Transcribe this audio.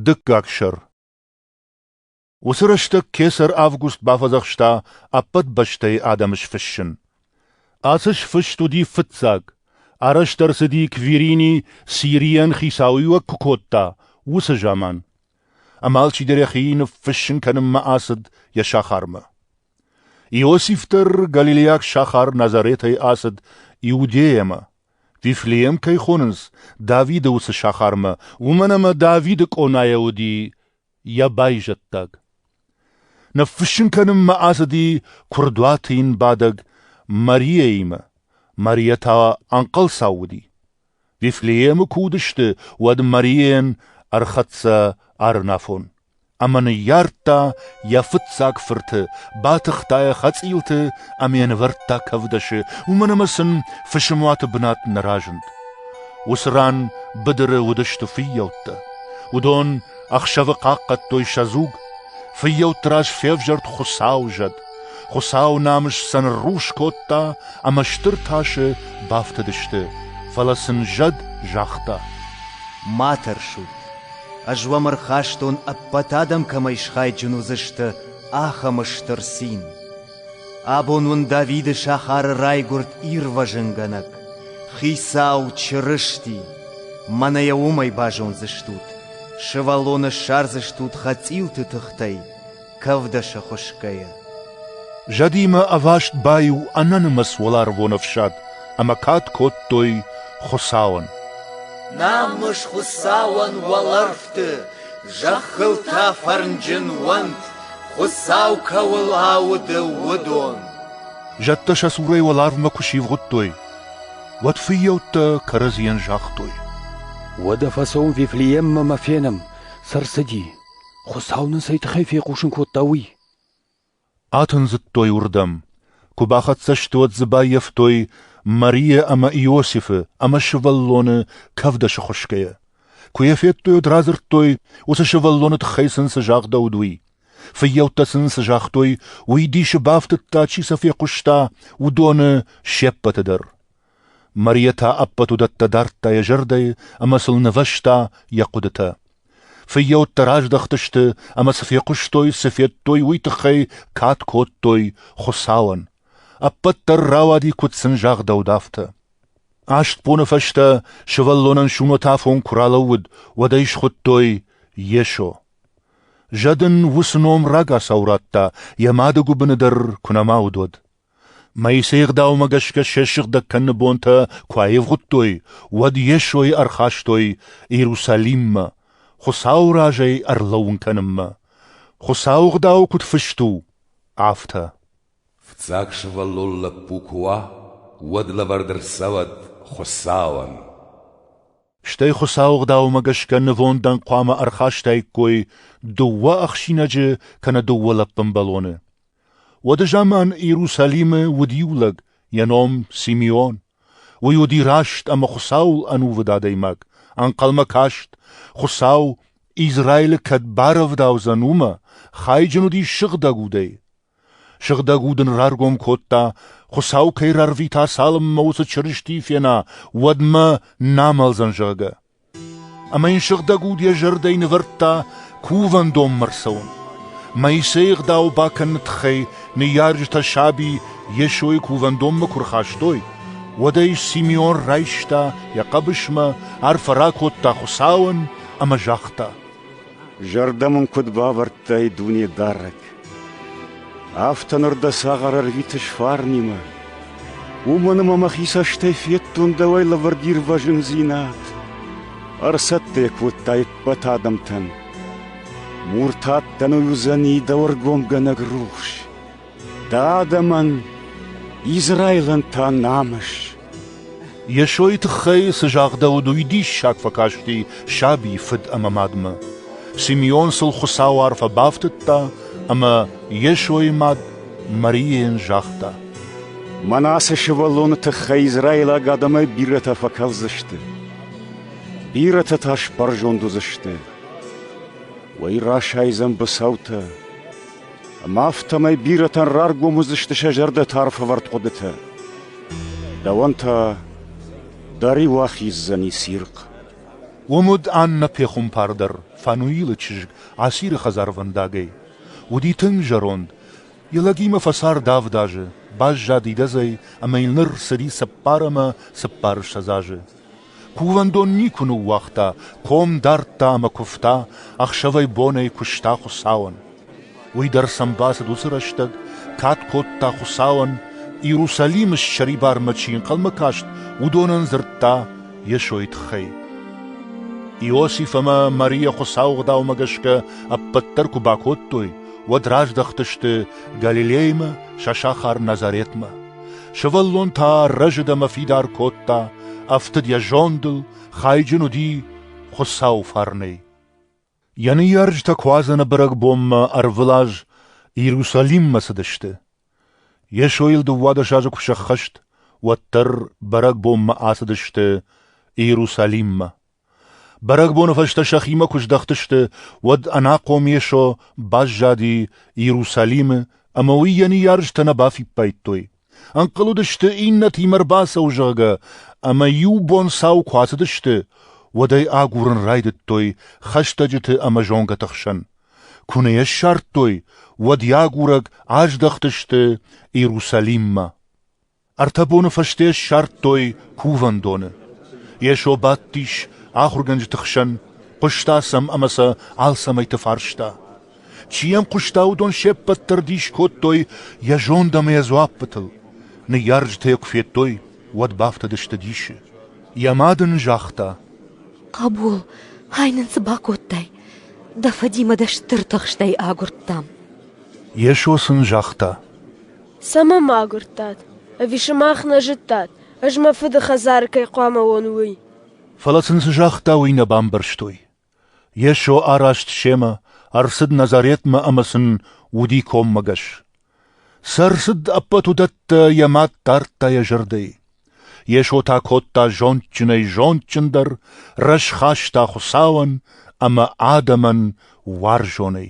Дыккаг сӕр Уыцы рӕстӕг кесӕр Август бафӕдзӕхста ӕппӕт бӕстӕйы адӕмы сфыссын. Ацы сфыст уыди фыццаг, арӕзт ӕрцыди Квирини Сирийӕн хицауиуӕг куы кодта, уыцы заман. Ӕмӕ алчидӕр йӕхи ныффыссын кӕнынмӕ ацыд йӕ сахармӕ. Иосиф дӕр галилейаг сахар Назаретӕй ацыд Иудейӕмӕ. Вифлеем кӕй хонынц Давиды уыцы сахармӕ, уымӕн ӕмӕ Давиды къонайӕ уыди йӕ байзӕддаг. Ныффыссын кӕнынмӕ ацыди куырдуаты йын бадӕг Марияимӕ. Мария та ӕнхъӕлцау уыди. Вифлеемы куы уыдысты, уӕд Марийӕн ӕрхӕццӕ арӕнафон ӕмӕ ныййардта йӕ фыццаг фырты, батыхта йӕ хӕцъилты ӕмӕ йӕ нывӕрдта кӕвдӕсы, уымӕн ӕмӕ сын фысымуаты бынат нӕ разынд. Уыцы ран быдыры уыдысты фыййӕуттӕ. Уыдон ӕхсӕвы хъахъхъӕдтой сӕ дзуг. Фыййӕутты раз февзӕрд Хуыцауы зӕд. Хуыцау намыс сӕ ныррухс кодта ӕмӕ стыр тасы бафтыдысты, фӕлӕ сын зӕд загъта: «Ма тӕрсут, ӕз уӕм ӕрхастон, ӕппӕт адӕм кӕмӕй схайджын уыдзысты, ахӕм стыр цин. Абон уын Давиды сахары райгуырд ирвӕзынгӕнӕг, Хицау Чырысти. Мӕнӕ йӕ уымӕй базондзыстут, сывӕллоны ссардзыстут хӕцъилты тыхтӕй, кӕвдӕсы хуысгӕйӕ. Зӕдимӕ ӕваст баиу ӕнӕнымӕц уӕларвон ӕфсад ӕмӕ кад кодтой Хуыцауӕн. Намыс Хуыцауӕн уӕлӕрвты, зӕххыл та фӕрнджын уӕнт, Хуыцау кӕуыл ауды, уыдон. Зӕдтӕ сӕ цурӕй уӕларвмӕ куы сивгъуыдтой, уӕд фыййӕуттӕ кӕрӕдзийӕн загътой. Уӕдӕ фӕцӕуы Вифлееммӕ мӕ фенӕм, цы рцыди. Хуыцау нын цӕй тыххӕй фехъусын кодта, уый? Атындзыдтой уырдӕм. Куы бахӕццӕ сты, уӕд дзы баййӕфтой Марийӕ ӕмӕ Иосифы ӕмӕ сывӕллоны кӕвдӕсы хуысгӕйӕ. Куы йӕ федтой, уӕд радзырдтой, уыцы сывӕллоны тыххӕй сын цы загъдӕуыд, уый. Фыййӕуттӕ сын цы загътой, уый дисы бафтыдта, чи сӕ фехъуыста, уыдоны се ппӕты дӕр. Мария та ӕппӕт уыдӕттӕ дардта йӕ зӕрдӕйы ӕмӕ сыл нывӕзта йӕ хъуыдытӕ. Фыййӕуттӕ раздӕхтысты ӕмӕ цы фехъуыстой, цы федтой, уый тыххӕй кад кодтой Хуыцауӕн. Ӕппӕт дӕр рауади, куыд сын загъдӕуыд, афтӕ. Аст боны фӕстӕ сывӕллонӕн сумӕтӕфон куы ралӕууыд, уӕд ӕй схуыдтой Йесо. Зӕд ын уыцы ном рагацау радта, йӕ мады гуыбыны дӕр куы нӕма уыд, уӕд. Моисей ӕгъдаумӕ гӕсгӕ сӕ сыгъдӕг кӕныны бонтӕ куы аивгъуыдтой, уӕд Йесойы ӕрхастой Иерусалиммӕ, Хуыцауы разӕй ӕрлӕууын кӕнынмӕ, Хуыцауы Гъдау куыд фыст у, афтӕ. Фыццаг сывӕллон лӕппу куы уа, уӕд лӕвӕрд ӕрцӕуӕд Хуыцауӕн. Стӕй Хуыцауы Гъдаумӕ гӕсгӕ нывондӕн хъуамӕ ӕрхастаиккой дыууӕ ӕхсинӕджы кӕнӕ дыууӕ лӕппынбӕлоны. Уӕды заман Иерусалимы уыд иу лӕг, йӕ ном Симеон. Уый уыди раст ӕмӕ Хуыцауыл ӕнувыд адӕймаг. Ӕнхъӕлмӕ каст, Хуыцау Израилы кӕд барӕвдаудзӕн, уымӕ, хайджын уыдис сыгъдӕг удӕй. Сыгъдӕг уд ын раргом кодта, Хуыцау кӕй рарвита, цалынмӕ уыцы Чырысти фена, уӕдмӕ нӕ амӕлдзӕн, зӕгъгӕ. Ӕмӕ йын сыгъдӕг уд йӕ зӕрдӕйы нывӕрдта кувӕндонмӕ рцӕуын. Моисейы ӕгъдау бакӕныны тыххӕй ныййарджытӕ саби Йесойы кувӕндонмӕ куы рхастой, уӕд ӕй Симеон райста йӕ хъӕбысмӕ, арфӕ ракодта Хуыцауӕн ӕмӕ загъта: Зӕрдӕ мын куыд бавӕрдтай, Дунедарӕг! Афтӕ ныр дӕ цагъар ӕрвитыс фарнимӕ. Уымӕн ӕмӕ мӕхи цӕстӕй федтон дӕуӕй лӕвӕрд ирвӕзындзинад. Ӕрцӕттӕ кодтай ӕппӕт адӕмтӕн. Муртат дӕн уыдзӕни дӕ ӕргомгӕнӕг рухс. Дӕ адӕмӕн Израилӕн та намыс. Йесойы тыххӕй цы загъдӕуыд, уый диссаг фӕкасти сабийы фыд ӕмӕ мадмӕ. Симеон сыл Хуыцауы арфӕ бафтыдта, ӕмӕ Йесойы мад Марийӕн загъта: Манасе сывӕллоны тыххӕй израилаг адӕмӕй бирӕтӕ фӕкӕлдзысты. Бирӕтӕ та сбӕрзонд уыдзысты. Уый расайдзӕн быцӕутӕ, Ӕмӕ афтӕмӕй бирӕтӕн раргом уыдзысты сӕ зӕрдӕты арфӕвӕрд хъуыдытӕ. Дӕуӕн та дӕ риу ахиздзӕни цирхъ. Уым уыд Аннӕ пехуымпардӕр, Фануилы чызг, Асиры хӕдзарвӕндагӕй. Уыди тынг зӕронд. Йӕ лӕгимӕ фӕцард авд азы, баззад идӕдзӕй ӕмӕ йыл ныр цыди цыппар ӕмӕ цыппар ссӕдз азы. Кувӕндон никуы ныууагъта, ком дардта ӕмӕ куывта, ӕхсӕвӕй-бонӕй куыста Хуыцауӕн. Уый дӕр сӕм бацыд уыцы рӕстӕг, кад кодта Хуыцауӕн, Иерусалимы ссӕрибармӕ чи ӕнхъӕлмӕ каст, уыдонӕн дзырдта Йесойы тыххӕй. Иосиф ӕмӕ Марийӕ Хуыцауы Гъдаумӕ гӕсгӕ ӕппӕт дӕр куы бакодтой, уӕд раздӕхтысты Галилеймӕ сӕ сахар Назаретмӕ. Сывӕллон та рӕзыд ӕмӕ фидар кодта, ӕфтыд йӕ зондыл, хайджын уыди Хуыцауы фарнӕй. Йӕ ныййарджытӕ Куадзӕны бӕрӕгбонмӕ ӕрвылаз Иерусалиммӕ цыдысты. Йесойыл дыууадӕс азы куы сӕххӕст, уӕддӕр бӕрӕгбонмӕ ацыдысты Иерусалиммӕ. Бӕрӕгбоны фӕстӕ сӕхимӕ куы здӕхтысты, уӕд ӕнахъом Йесо баззади Иерусалимы ӕмӕ уый йӕ ныййарджытӕ нӕ бафиппайдтой. Ӕнхъӕл уыдысты, иннӕтимӕ ӕрбацӕуы, зӕгъгӕ, ӕмӕ иу бонцау куы ацыдысты, уӕд ӕй агурын райдыдтой хӕстӕджыты ӕмӕ зонгӕты хсӕн. Куы нӕ йӕ ссардтой, уӕд йӕ агурӕг аздӕхтысты Иерусалиммӕ. Ӕртӕ боны фӕсте ссардтой кувӕндоны. Йесо бадтис ахуыргӕнджыты хсӕн, хъуыста сӕм ӕмӕ сӕ алцӕмӕйты фарста. Чи йӕм хъуыста, уыдон се ппӕт дӕр дис кодтой йӕ зонд ӕмӕ йӕ дзуаппытыл. Ныййарджытӕ йӕ куы федтой, уӕд бафтыдысты дисы. Йӕ мад ын загъта: «Хъӕбул, ай нын цы бакодтай? Дӕ фӕдимӕ дӕ стыр тыхстӕй агуырдтам». Йесо сын загъта: Цӕмӕ мӕ агуырдтат? Ӕви сымах нӕ зыдтат, ӕз мӕ фыды хӕдзары кӕй хъуамӕ уон, уый? Фӕлӕ сын цы загъта, уый нӕ бамбӕрстой. Йесо араст семӕ, ӕрцыд Назаретмӕ ӕмӕ сын уыди коммӕгӕс. Цы ӕрцыд, ӕппӕт уыдӕттӕ йӕ мад дардта йӕ зӕрдӕйы. Йесо та кодта зондджынӕй зондджындӕр, рӕзхаста Хуыцауӕн ӕмӕ адӕмӕн уарзонӕй.